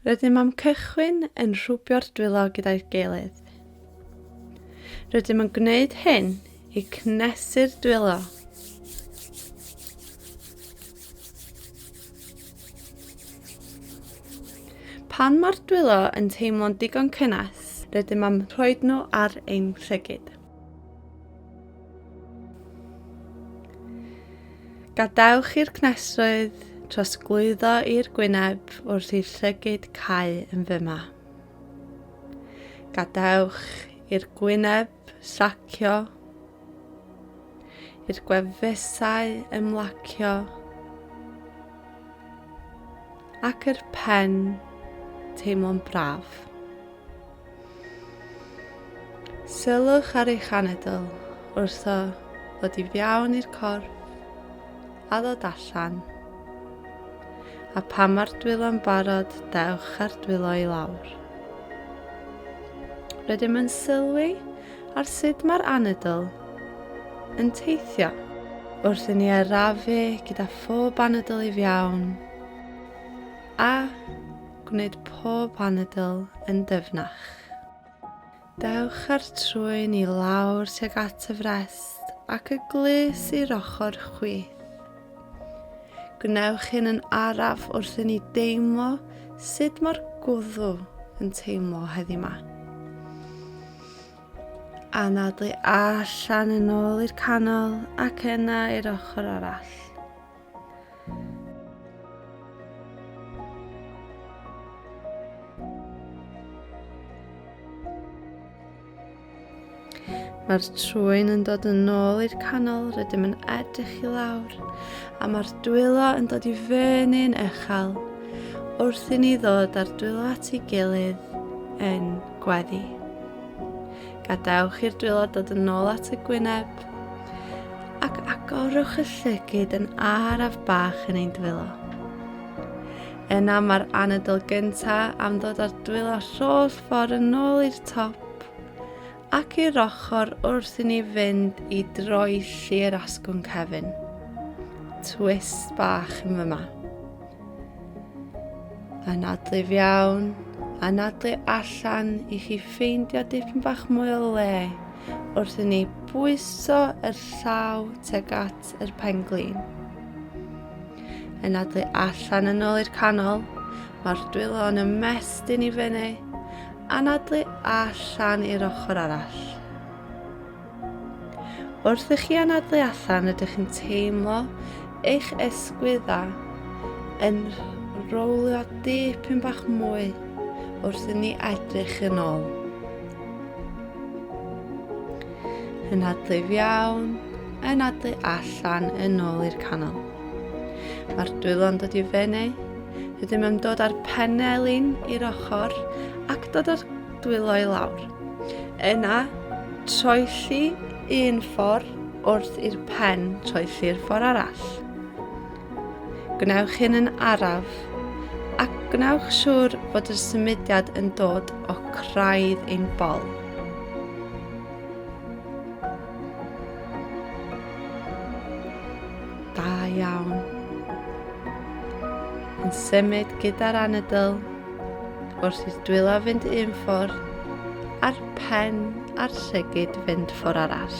Rydym am cychwyn yn rhwbio'r dwylo gyda'i gilydd. Rydym yn gwneud hyn i cnesu'r dwylo. Pan mae'r dwylo yn teimlo'n digon cynnes, rydym am rhoi nhw ar ein rhygyd. Gadewch i'r cnesoedd trosglwyddo i'r gwyneb wrth i'r llygyd cau yn fyma. Gadewch i'r gwyneb sacio, i'r gwefusau ymlacio, ac yr pen teimlo'n braf. Sylwch ar eich anadl wrtho ddod i fiawn i'r corff a ddod allan. A pan mae'r dwylo'n barod, dewch ar dwylo i lawr. Rydym yn sylwi ar sut mae'r anadl yn teithio wrth i ni arafu gyda phob anadl i fiawn a Gwneud pob anadl yn dyfnach. Dewch â'r trwyn i lawr tuag at y frest ac y glys i'r ochr chwith. Gwnewch hyn yn araf wrth i ni deimlo sut mae'r gwddw yn teimlo heddi yma. Anadlu allan yn ôl i'r canol ac yna i'r ochr arall. Mae'r trwyn yn dod yn ôl i'r canol, rydym yn edrych i lawr, a mae'r dwylo yn dod i fyny'n echel, wrth i ni ddod â'r dwylo at ei gilydd yn gweddi. Gadewch i'r dwylo dod yn ôl at y gwyneb, Ac agorwch y llygyd yn araf bach yn ein dwylo. Yna mae'r anadl gynta am ddod ar dwylo rholl ffordd yn ôl i'r top ac i'r ochr wrth i ni fynd i droi lli'r asgwrn cefn. Twist bach yn fyma. Anadlu iawn, anadlu allan i chi ffeindio dipyn bach mwy o le wrth i ni bwyso yr llaw teg at yr penglin. Anadlu allan yn ôl i'r canol, mae'r dwylo yn ymestyn i fyny, anadlu allan i'r ochr arall. Wrth i chi anadlu allan ydych chi'n teimlo eich esgwydda yn rowlio dipyn bach mwy wrth i ni edrych yn ôl. Yn adlu iawn, yn adlu allan yn ôl i'r canol. Mae'r dwylo'n dod i fyny, rydym yn dod â'r penelin i'r ochr ac dod â'r dwylo i lawr. Yna, troelli un ffordd wrth i'r pen troelli'r ffordd arall. Gwnewch hyn yn araf ac gwnewch siŵr fod y symudiad yn dod o craidd ein bol. Da iawn. Yn symud gyda'r anadl Wrth i'r dwyla fynd un ffordd, a'r pen a'r llygyd fynd ffordd arall.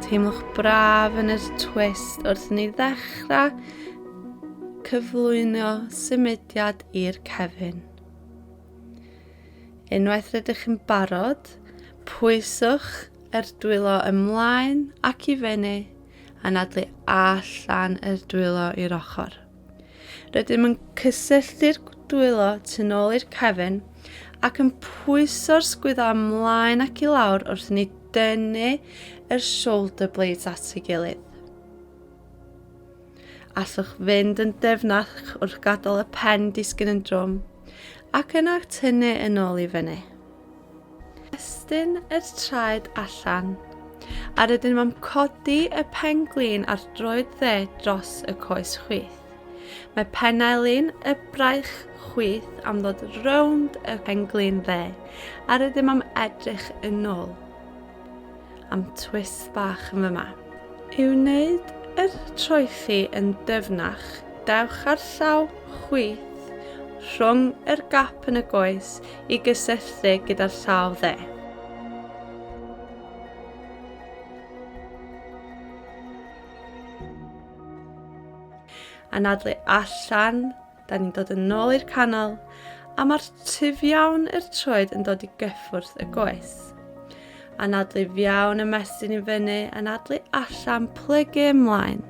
Teimlwch braf yn yr twist wrth ni ddechrau cyflwyno symudiad i'r cefn. Unwaith rydych chi'n barod, pwyswch yr dwylo ymlaen ac i fyny a nadlu allan yr dwylo i'r ochr. Rydym yn cysylltu'r dwylo tu ôl i'r cefn ac yn pwyso'r sgwyddo ymlaen ac i lawr wrth ni dynnu yr shoulder blades at ei gilydd. Allwch fynd yn dyfnach wrth gadael y pen disgyn yn drwm ac yna tynnu yn ôl i fyny. Estyn yr traed allan, a rydyn nhw'n codi y pen glin ar droed dde dros y coes chwith. Mae pennau lun y braich chwith am ddod rownd y penglin dde, a rydym am edrych yn ôl. am twist bach yn fyma. I wneud yr troeddi yn dyfnach, dewch ar llaw chwith rhwng yr gap yn y goes i gysylltu gyda'r llaw dde. Anadlu allan Da ni'n dod yn ôl i'r canol, a mae'r tyf iawn yr troed yn dod i gyffwrdd y goes. Anadlu fiawn y mesyn i fyny, anadlu allan, plygu ymlaen.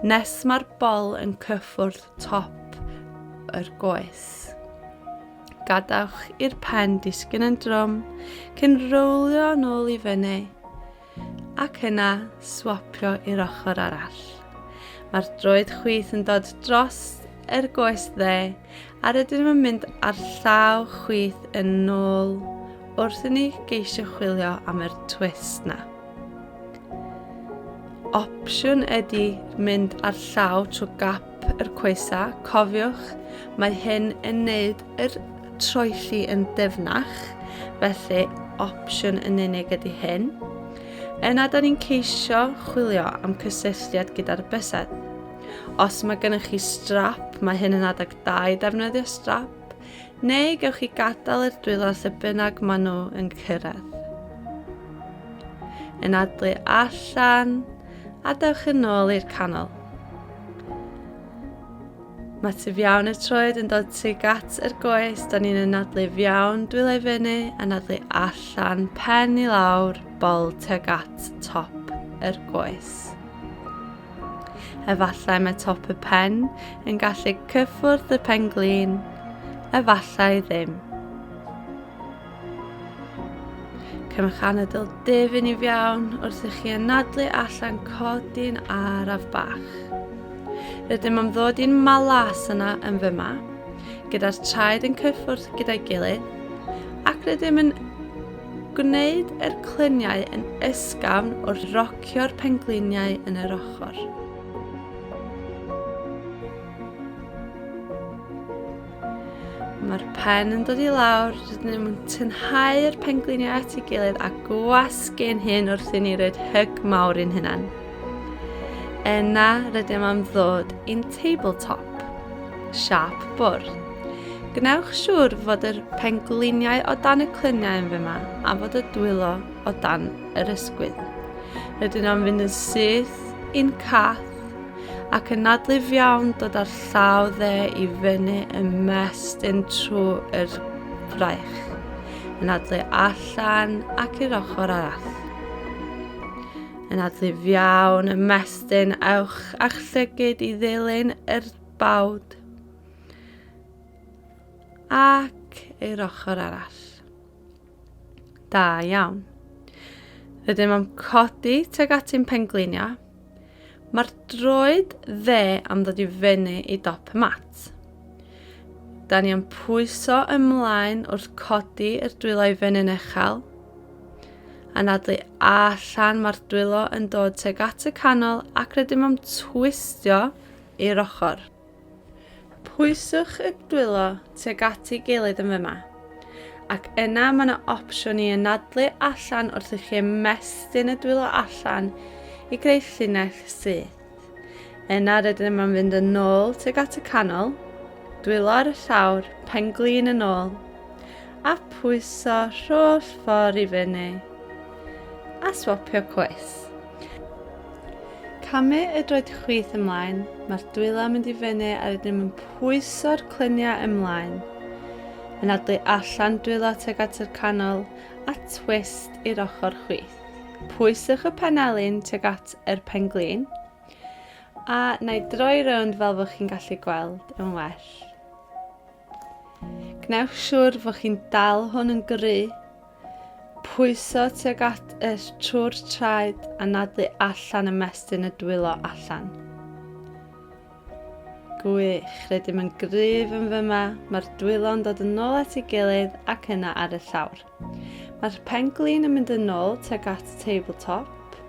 Nes mae'r bol yn cyffwrdd top yr goes. Gadawch i'r pen disgyn yn drom, cyn rowlio yn ôl i fyny, ac yna swapio i'r ochr arall. Mae'r droed chwith yn dod dros yr goes dde a rydyn nhw'n mynd ar llaw chwith yn ôl wrth i ni geisio chwilio am yr twist na. Opsiwn ydy mynd ar llaw trwy gap yr coesa, cofiwch, mae hyn yn neud yr troelli yn dyfnach, felly opsiwn yn unig ydy hyn. Yna, da ni'n ceisio chwilio am cysylltiad gyda'r bysedd. Os mae gennych chi strap, mae hyn yn adeg da i ddefnyddio strap, neu gewch chi gadael i'r dwylo lle bynnag maen nhw yn cyrraedd. Yn adlu allan, a dewch yn ôl i'r canol. Mae tu fiawn y troed yn dod tuag at yr goes, da ni'n anadlu fiawn dwylo i fyny, anadlu allan, pen i lawr, bol tuag at top yr goes. Efallai mae top y pen yn gallu cyffwrdd y pen glin, efallai ddim. Cymrwch anadl dif yn iawn wrth i chi anadlu allan codi'n araf bach. Rydym am ddod i'n malas yna yn fyma, gyda'r traed yn cyffwrdd gyda'i gilydd, ac rydym yn gwneud yr clyniau yn ysgafn wrth rocio'r pengliniau yn yr ochr. Mae'r pen yn dod i lawr, rydyn ni'n tynhau'r pengliniau at ei gilydd a gwasgu'n hyn wrth i ni roed hyg mawr i'n hynna'n. Yna rydym am ddod i'n tabletop, siap bwrdd. Gwnewch siŵr fod yr pengliniau o dan y clyniau yn fyma a fod y dwylo o dan yr ysgwydd. Rydyn am fynd yn syth i'n cath ac yn nadlif iawn dod â'r llaw dde i fyny yn mestyn trwy yr fraich, yn adlu allan ac i'r ochr arall. Yn adlif iawn y mestyn ewch a'ch llygyd i ddilyn yr bawd ac i'r ochr arall. Da iawn. Rydym am codi teg ati'n pengliniau. Mae'r droed dde am ddod i fyny i dop y mat. Da ni am pwyso ymlaen wrth codi yr dwylo i fyny'n echel. Anadlu allan mae'r dwylo yn dod teg at y canol ac rydym am twistio i'r ochr. Pwyswch y dwylo tuag at ei gilydd yn fyma. Ac yna mae yna opsiwn i anadlu allan wrth i chi ymestyn y dwylo allan i greu llinell syth. Yna rydyn yma yn fynd yn ôl tuag at y canol, dwylo ar y llawr, pen glin yn ôl, a pwyso rholl ffordd i fyny, a swapio cwys. Camu y droed chwith ymlaen, mae'r dwyla mynd i fyny a rydym yn pwyso'r cluniau ymlaen. Yn adlu allan dwyla teg at yr canol a twist i'r ochr chwith. Pwyswch y penelin teg at yr penglin a na i droi rownd fel fod chi'n gallu gweld yn well. Gwnewch siwr fod chi'n dal hwn yn gry Pwyso tuag at y trwr traed a nadlu allan ymestyn y dwylo allan. Gwych, rydym yn gryf yn fyma, mae'r dwylo'n dod yn ôl at ei gilydd ac yna ar y llawr. Mae'r penglin yn mynd yn ôl tuag at tabletop.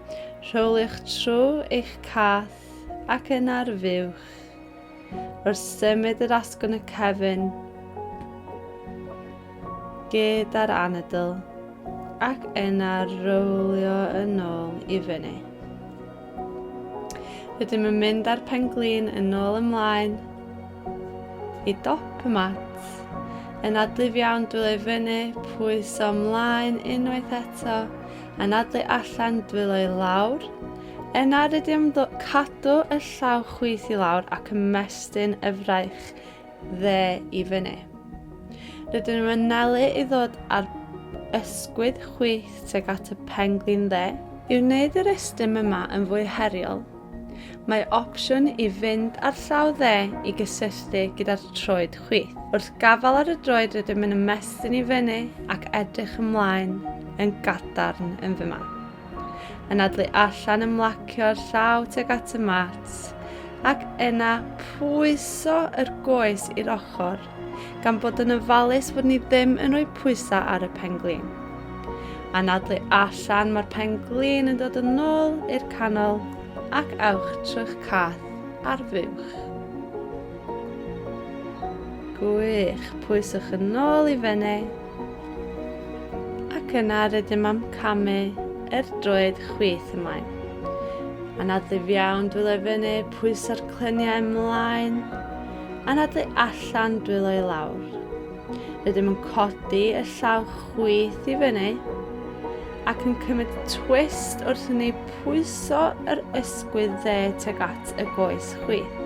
Rhowliwch trwy eich cath ac yna rhywiwch Wrth symud yr asgwrn y cefn gyda'r anadl ac yna rowlio yn ôl i fyny. Rydym yn mynd â'r penglin yn ôl ymlaen i dop y mat. Yn adlif iawn dwylo i fyny, pwyso ymlaen unwaith eto yn adlu allan dwylo i lawr. Yn arid i'r ymddo, cadw y llaw chwith i lawr ac ymestyn y fraich dde i fyny. Rydyn nhw'n mynelu i ddod ar ysgwydd chwith teg at y penglin dde. I wneud yr estym yma yn fwy heriol, Mae opsiwn i fynd ar llaw dde i gysylltu gyda'r troed chwith. Wrth gafael ar y droed rydym yn ymestyn i fyny ac edrych ymlaen yn gadarn yn fy ma. Yn adlu allan ymlacio'r llaw teg at y mat ac yna pwyso yr goes i'r ochr gan bod yn ofalus fod ni ddim yn rhoi pwysau ar y pen glin. Anadlu allan, mae'r pen glin yn dod yn ôl i'r canol ac awch trwy'ch cath ar fuwch. Gwych, pwyswch yn ôl i feneu ac yna rydym am camu er droed chwith ymlaen. Anadlu iawn, dwylo i fyny, pwyso'r clyniau ymlaen, Anadlu allan dwylo i lawr. Rydym yn codi y llaw chwith i fyny ac yn cymryd twist wrth i ni pwyso yr ysgwydd dde teg at y goes chwith.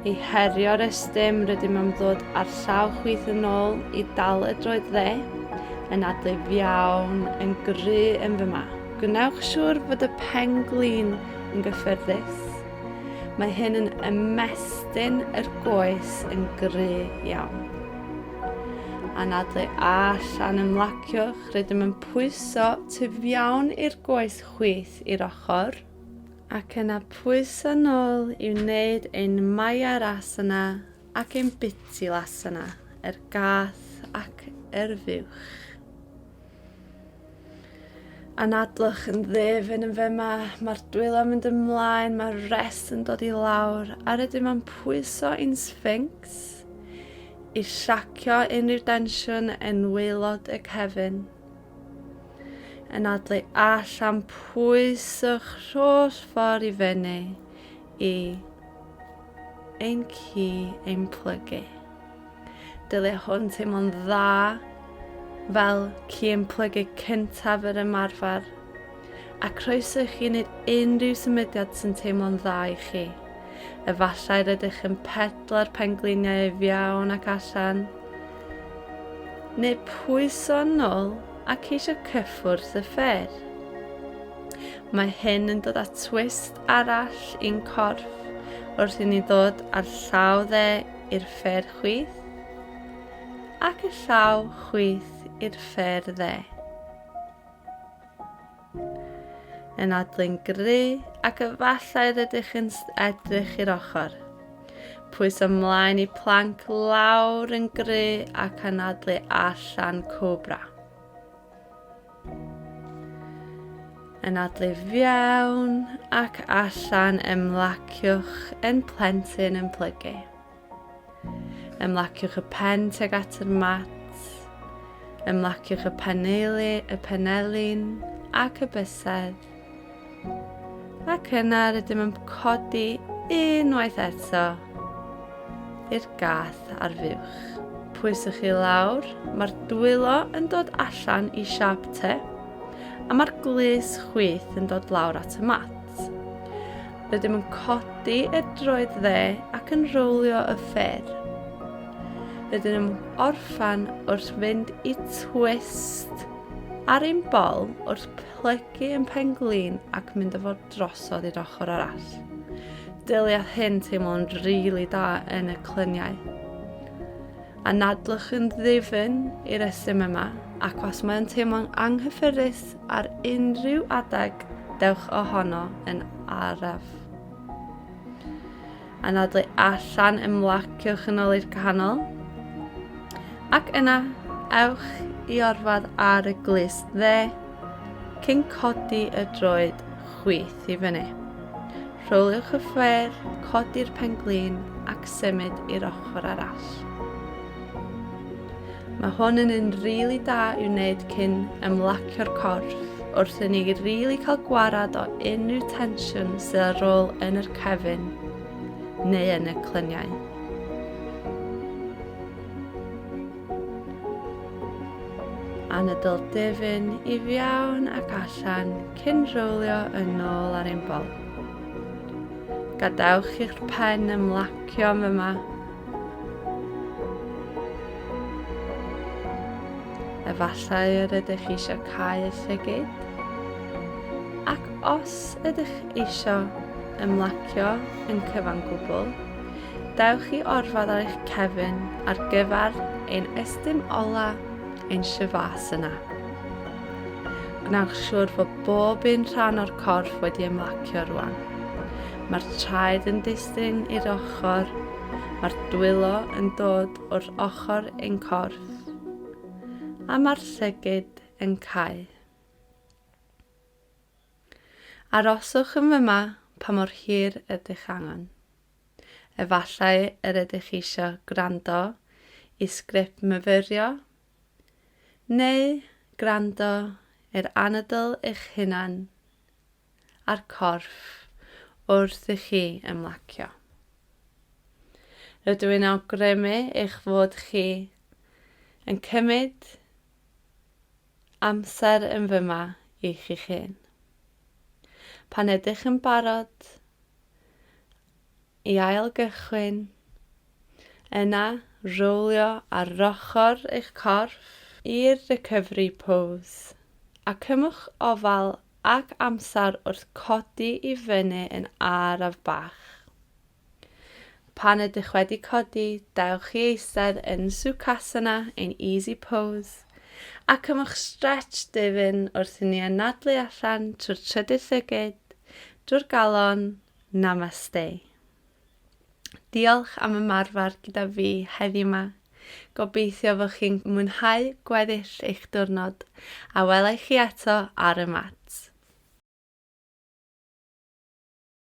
I herio'r estym, rydym yn ddod â'r llaw chwith yn ôl i dal y droed dde, yn adlif iawn, yn gry yn fy ma. Gwnewch siŵr fod y pen glin yn gyffyrddus. Mae hyn yn ymestyn yr goes yn gry iawn. Anadlu allan ymlaciwch, rydym yn pwyso tu fiawn i'r goes chwith i'r ochr, ac yna pwyso nôl i wneud ein maiar asana ac ein biti lasana, yr gath ac yr fuwch. Anadlwch yn ddefyn yn fema, mae'r dwylo mynd ymlaen, mae'r rest yn dod i lawr, a rydym am pwyso i'n sphinx i siacio unrhyw densiwn yn waelod y cefn. Yn adlu allan pwyswch rholl ffordd i fyny i ein ci ein plygu. Dylia hwn teimlo'n dda fel ci yn plygu cyntaf yr ymarfer. A croeso i chi wneud unrhyw symudiad sy'n teimlo'n dda i chi. Efallai rydych yn pedlo'r pengliniau ei fiawn ac allan, neu pwyso'n nôl a ceisio cyffwrdd y ffer. Mae hyn yn dod â twist arall i'n corff wrth i ni ddod â'r llaw dde i'r ffer chwith, ac y llaw chwith i'r ffer dde. Yn adlun gry ac efallai rydych yn edrych i'r ochr. Pwys ymlaen i planc lawr yn gry ac anadlu allan cobra. yn adlif fiawn ac allan ymlaciwch yn plentyn yn plygu. Ymlaciwch y pen teg at yr mat, ymlaciwch y paneli, y penelin ac y bysedd Ac yna rydym yn codi unwaith eto i'r gath ar fuwch. Pwyswch chi lawr, mae'r dwylo yn dod allan i siap te, a mae'r glis chwith yn dod lawr at y mat. Rydym yn codi y droed dde ac yn rowlio y ffer. Rydym yn orffan wrth fynd i twist ar ein bol wrth plygu yn pen-glin ac mynd â fo drosodd i'r ochr arall. Dyliaeth hyn teimlo'n rili really da yn y clyniau. Anadlwch yn ddifyn i'r ysym yma ac os mae'n teimlo'n anghyffyrddus ar unrhyw adeg, dewch ohono yn araf. anadlu allan ymlacio chynoli'r canol ac yna ewch i orfod ar y glust dde cyn codi y droed chwith i fyny. Rholiwch y ffêr, codi'r pen-glin ac symud i'r ochr arall. Mae hwn yn un rili da i'w wneud cyn ymlacio'r corff, wrth i ni rili cael gwarad o unrhyw tensiwn sydd ar ôl yn yr cefn neu yn y clyniau. Anadl difyn i fiawn ac allan cyn rowlio yn ôl ar ein bol. Gadewch i'ch pen ymlacio yma Efallai yr ydych chi eisiau cael y llygyd. Ac os ydych eisiau ymlacio yn cyfan gwbl, dewch i orfod ar eich cefn ar gyfer ein estyn ola ein syfas yna. Gwnewch siŵr fod bob un rhan o'r corff wedi ymlacio rwan. Mae'r traed yn dys Testun i'r ochr, mae'r dwylo yn dod wrth ochr ein corff, a mae'r llygyd yn cau. Aroswch yn fyma pa mor hir ydych angen. Efallai yr ydych eisiau gwrando i sgript myfyrio, neu gwrando i'r anadl eich hunan a'r corff wrth i chi ymlacio. Rydw i'n awgrymu eich fod chi yn cymryd amser yn fyma i chi'ch hun. Pan ydych yn barod, i ailgychwyn, yna rowlio ar ochr eich corff i'r recovery pose, a cymwch ofal ac amser wrth codi i fyny yn araf bach. Pan ydych wedi codi, dewch i eistedd yn Sukhasana ein Easy Pose, a cymwch stretch difyn wrth i ni anadlu allan trwy'r trydydd llygid, drwy'r galon, Namaste. Diolch am ymarfer gyda fi heddiw 'ma. Gobeithio fod chi'n mwynhau gweddill eich diwrnod, a welai chi eto ar y mat.